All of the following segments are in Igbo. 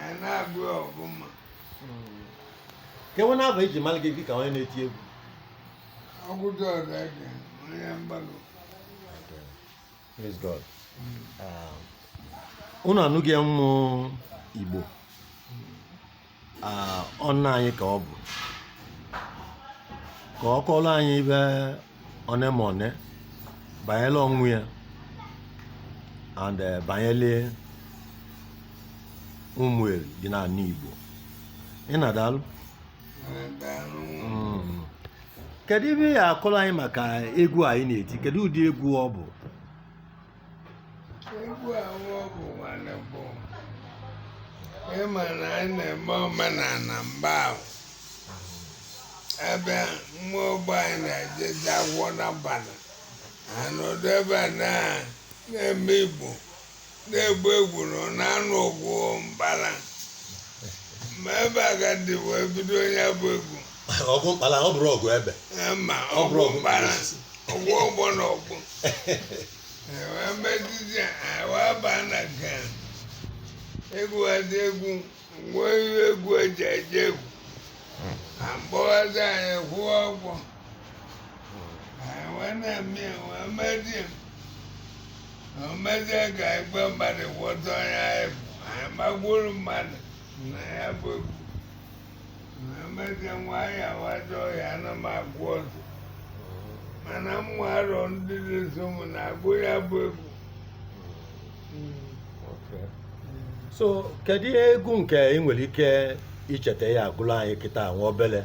anyị na-agụ ya ọfụma kedu ife na-abụ eji mara gị dịka onye na-eti egwu ọgụdụ ọrụ ede onye mgbalụ Praise God. Um, unu anụgo ya ụmụ Igbo Ah, ọ nna anyị ka ọ bụ ka ọ kọọrọ anyị ife one ma one banyere onwe ya and eh, banyere Umueri dị n'ala Igbo nna daalụ mm. kedu ife ị ya-akọrọ anyị maka egwu a ị na-eti kedu ụdị egwu ọ bụ egwu ahụ ọ bụ nwanne bụ ịma na anyị na-eme omenala mgbe ahụ ebe nwa ogbe anyị na-ejeje agwọ n'abalị anọdụ ebe a na na-eme igbo na-egbu egwu na ọ na-anụ ọgwụ mbara ma ebe a ka e ji wee bido ya bụ egwu ọgụ mkpala ọ bụrụ ọgụ ebe Eh, ma Ọ bụrụ ọgwụ ọgwụ mkpara mkpụrụ osisi. ọgwụ ọgbọ na ọgwụ wee mezizie wee baa na nke a. egwu adị egwu ngwa ihe egwu eji eje egwu ka mkpọghata anyị kwụọ ọgwụ anyị wee na-eme ya wee mezie ya na omezie ka igwe mmadụ ghọta onye anyị bụ anyị magburu mmadụ na ya bụ egwu emezi nwa ya waja ọhịa na m agụ ọzọ mana mụ arọ ndị na-eso m na-agụ ya bụ egwu Okay. so kedu egwu nke ị nwere ike icheta ya agụlụ anyị kịta nwa obele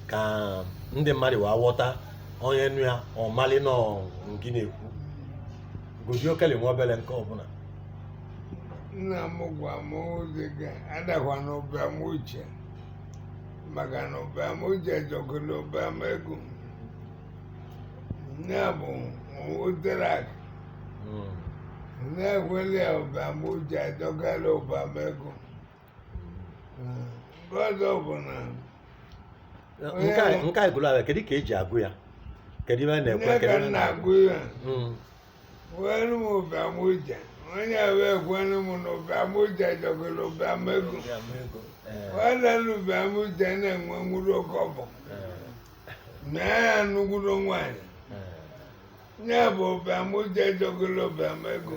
ka ndị mmadụ wee ghọta onye nụ ya ọ malụ na ọ nke ị na-ekwu gụzie okele nwa obele nke ọbụla nna m gwa m ọ sị gị adakwa n'ụbịam uche maka na ụbịam uche jọkalụ ụbịam ego ya bụ nwutere akụ Mm. na-ekwelụ ya ụbịam uche jọkalụ ụbịam ego nke ọzọ bụ na nke a- nke a gụrụ ebe a kedu ka eji agụ ya kedu ife a na-ekwe nne kedu ka ebe a m na-agụ na-agụ ya Mm. Kwenu m ụbịam uche onye wee kwenu m na ụbịam uche jọkalụ ụbịam ego nwanne na ụbịam uche na-enwe nwuru oke ọbọ na ya nnukwuru nwaanyị ya bụ ụbịam uche jọkalụ ụbịam ego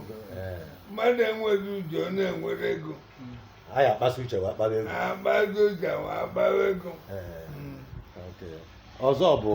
mmadụ enweghị uche ọ na-enwere ego a ya akpasị uche wa akpawa ego akpasịa uche ma akpawa ego Ee, okay. ọzọ bụ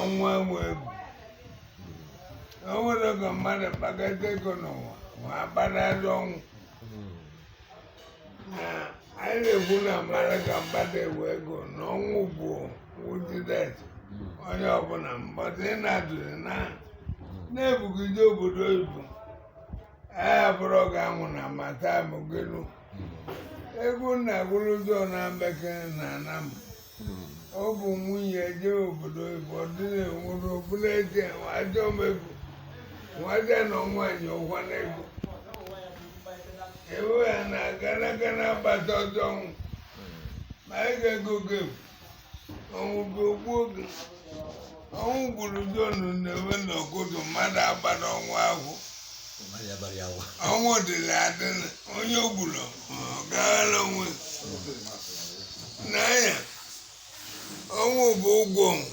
ọnwụ enwe egwu o nwere oge mmadụ kpakọta ego n'ụwa ma agbanarị ọnwụ na anyị na-ekwu na mmadụ ka mmadụ ewe ego na ọnwụ bụ wujidet onye ọbụla mmadụ ị na-adụrụ na na-ebugide obodo oyibo a bụrụ ọ ga-anwụ na mata mụgelu egwu na-agụrụ ụjọ na mbekere na anam ọ bụ onye je obodo oyibo ọ dị na-enwere obula eje ajọ m ego nwaje na nwaanyị ụgwa na ego ewe ya na gana gana agbata ọsọ ọnwụ ma anyị ga-ego gem ọnwụ bụ ogbuo gị ọnwụ gburu jonu na-enwe n'ọkụtụ mmadụ agbana ọnwụ ahụ ọnwụ dịrị adịrị onye o gburu ọ gaghara onwe n'anya ọnwụ bụ ụgwọ ọnwụ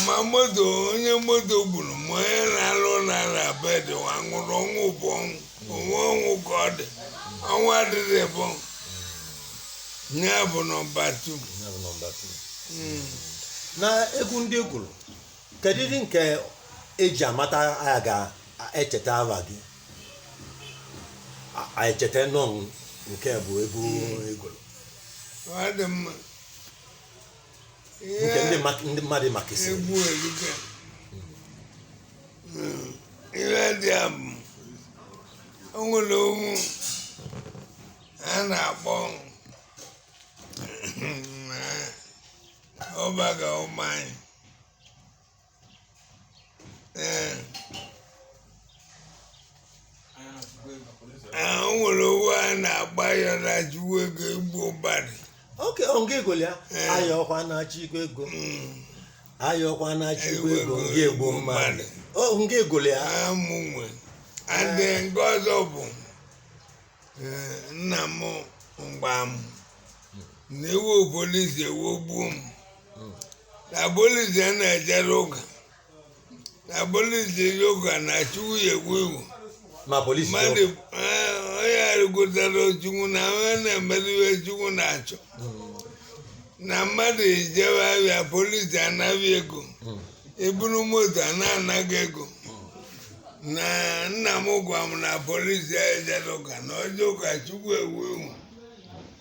ma moto onye moto gburu ma onye na-alụ n'ala bedị wee nwụrụ ọnwụ bụ ọnwụ onwe ọnwụ ka ọ dị ọnwụ adịghị bụ ya bụ nọmba tu Ya bụ nọmba two. na egwu ndị ị gụrụ kedu ndị nke e ji amata aya ga-echeta ava gị A- a echeta nọ nke bụ egwu ị gụrụ ọ dị mma nke ndị mak- ndị mmadụ makasịrị egwu erika Mm, ihe dị a bụ o nwere ovu a na-akpọ ọbaga ụmụ anyị ee ee, o nwere ovu a na-akpọ ya na chukwu ego igbu ụbarị oke ọnga ego ya Eh. ayọkwa na-achọ igwe ego ayọkwa na-achọ igwe ego nga egbo mmadụ ọ nga ego ya amụ nwe adị nke ọzọ bụ ee, nna m gwa m na iwe polisi ewegbuo m na polisi na-ejerọ ụka na polisi je ụka na chukwu ya ewe iwe ma polisi dị mmadụ ọkụ. eh, onye aghọtarọ chukwu na onye na-emere ihe chukwu na-achọ na mmadụ ejewe ahịa polisi ana gị ego Mm. i buru moto a na-ana gị ego na nna m gwa m na polisi ejerọ ụka na o jee ụka chukwu ewe iwe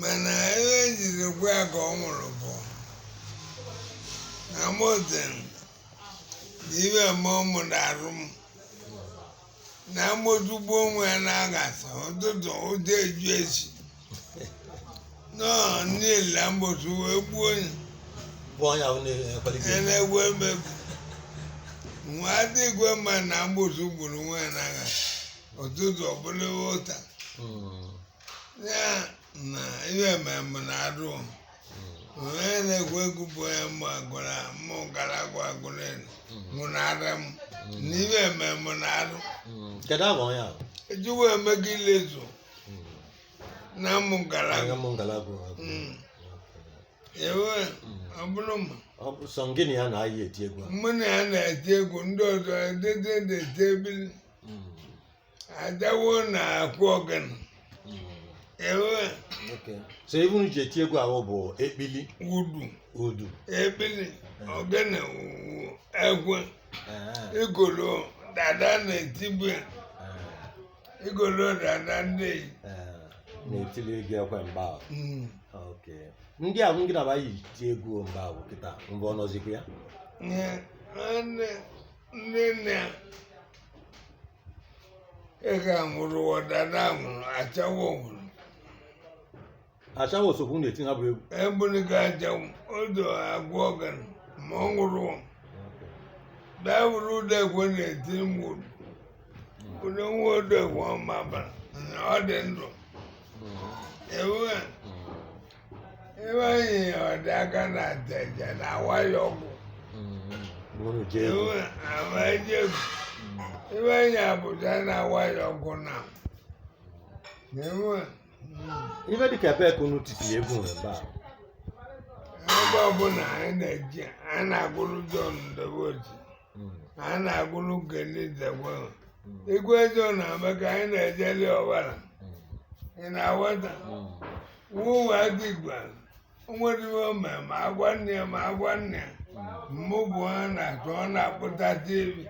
mana ebe e jiri gwa ya ka ọ nwụrụ bụ na moten na ibe eme ụmụ na arụ m na mgbotu gbu nwa ya na aghasa ụtụtụ ụjọ eju echi nọọ niile mgbotu wee gbuo onye bụ onye ahụ na-ekwalite na-egwu emegbu nwa dị igwe mma na mgbotu gburu nwa ya na aghasa ụtụtụ ọbụla ụta Mm. ya na ihe ememe na arụ onye na-egwu egwu bụ onye mụ agụrụ mụ gara agwa agụrụ elu mụ na ara m na ihe ememe na arụ kedu agwa onye ahụ ejiwe emego ilezu na mụ gara agwa m ngalaba Mm. ewe ọ bụrụ ma ọ bụ sọ gịnị ya na anyị eti egwu a mụ na ya na-eti egwu ndị ọzọ edede na-eti ekpili ajawo na-akụ ogene ee Okay. So ive unu ji eti egwu ahụ bụ ekpili udu udu. ekpili ogene ekwe Eh, igolo dada na-etibu ya eh, igolo dada ndị eyi eh. Na-etili egwu ekwe mgbe ahụ. Okay. Ndị ahụ ngị na va yi ti egwu mgbe ahụ kịta mgbe ọ nọzikwa ya. ihe ndị ndị nna ega nwụrụ dada nwụrụ ajawo nwụrụ ajawo sokwu na-eti ha bụ egwu ebụrụ ka ajawo odo agwọ ogene ma ọ nwụrụ dawụrụ udekwe na-eti nwụrụ ụdị nwa udekwe ọma bara na ọ dị ndụ ewe ebe anyị ọdị aka na teja na waya ọgwụ Bụrụ jee iwu amajebu ebe anyị abụja na waya ọgwụ na ewe ife dịka ebe ka unu titiri egwu nwere ebe a ebe ọbụla anyị na-eji a na-agụrụ John Ndobochi Mm. na a na-agụrụ Nkeli Nzekwe ahụ Mm. igwe John na-eme ka anyị na-ejeli ọvala Mm. ị na-aghọta Mm. wuo agigba nwere ome ma agwa nne ya ma agwa nne ya mmụ bụ ha na-atụ ọ na-akpụta tivi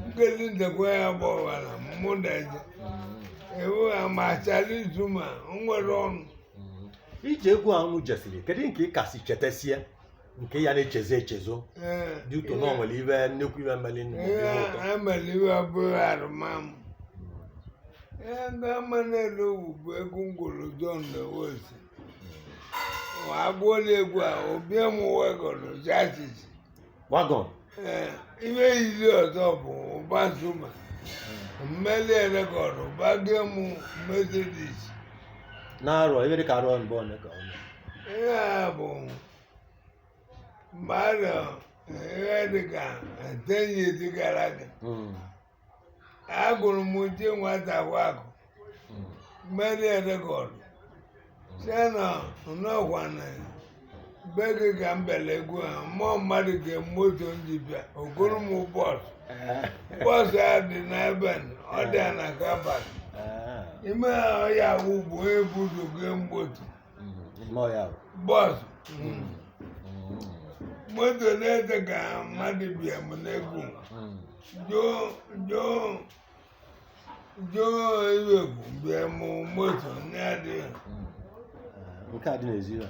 Nkeli Nzekwe ya bụ ọvala mmụ na-eje Mm. ewu ha machara izu ma nwere ọnụ Mm. ije egwu unu jesiri kedu nke ị kasị chetasie nke ya na-echezọ echezọ Ee, dị ụtọ na o nwere ife nnekwu ife meli nụ ihe ihe ụtọ abalị iwe abụghị arụmamụ ihe ndị ama na-ele owu bụ egwu m gụrụ John Nebolisa m agụọ n'egwu a o bunye m wagon chassis wagon ee ihe yiri ọzọ bụ Uba Zuma m meli rekọdụ ụba gị mụ Mercedes na arọ ebe dị ka arọ mbụ ọ na-eke ọnụ ihe a bụ mgbe a nọ ihe dịka ten years gara aga Mm. agụrụ m Uche Nwata wakụ Mm. m meli rekọdụ sị na m nọkwa na be gị ka m bịara egwu ha mmụọ mmadụ ka moto m ji bịa o goro m bọọsụ Eh. bọọsụ a dị n'ebe a, ọ dị na kabat Eh. ime ya wụ bụ onye buzo gị mgbotu bọọsụ moto na-ete ka mmadụ bunye m n'egwu Joe Iwegwu bunye m moto na-adịghị nke a dị n'ezi ya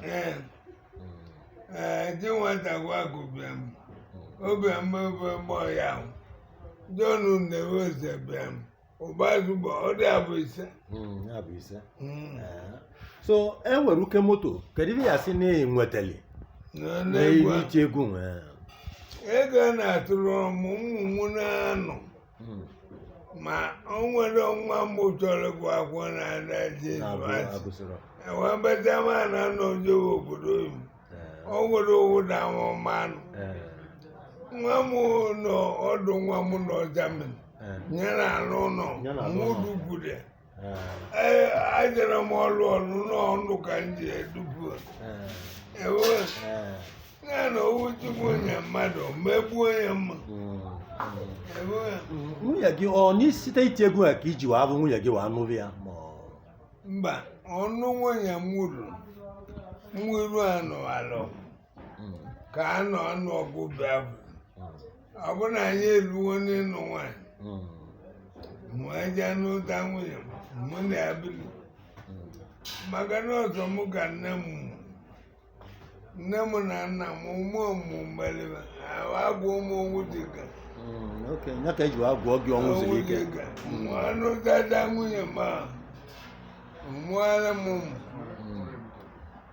ee dị nwata gwagụ bunye m obi mgbe mgbe mgbe ya ahụ John Nebolisa bunye m Uba Zuma ọ dị abụ ise Mm, ya bụ ise Mm. Ee. so ewerụga moto kedu ihe ị ga-asị na ị nwetali na na n'egwu ihe iti egwu nwee ego a na-atụrụ ọmụ ụmụ mụ na-anọ Mm. ma o nwere nwa m chọrọ ịgụ akwụkwọ na-ada je university agụsịrọ wee bata ma na anọ jewe obodo oyibo Ee. o nwere owu na amụmanụ Ee. nwa m nọ ọdụ nwa m nọ Germany nyere ala ụlọ mụdugwude ajere m ọlụ ọlụ n'ọnụ ka m ji edupu ewe ya na owu Chukwu onye mmadụ megbu onye mma ewe nwunye gị ọ n'isite iti egwu a ka i ji wee hụ nwunye gị wee nụrụ ya ma ọ- mba ọnụ nwunye m wuru mwiru anụ alụ ka a nọ anụ ọgụ bịa bụ ọ bụ na anyị eluwo n'ịnụ nwaanyị mụ eje nụta nwunye m mụ na ya bili maka na ọ sọ mụ ka nne m mụ nne m na nna m ụmụ ọmụmụ mgbaliba agwa ụmụ owu dịka oke ya ka eji agwọ gị ọnwụ zuru ike mụ anụtata nwunye m ọ mụọla m ụmụ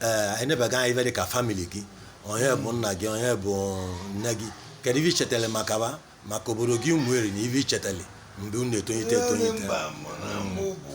ee anyị nebaga anya ife dị ka famili gị onye bụ nna gị onye bụ nne gị kedu ife ichetele maka fa maka obodo gị Umueri na ife ichetele mgbe ị na-etonyite etonyite mba mụ na mụ bụ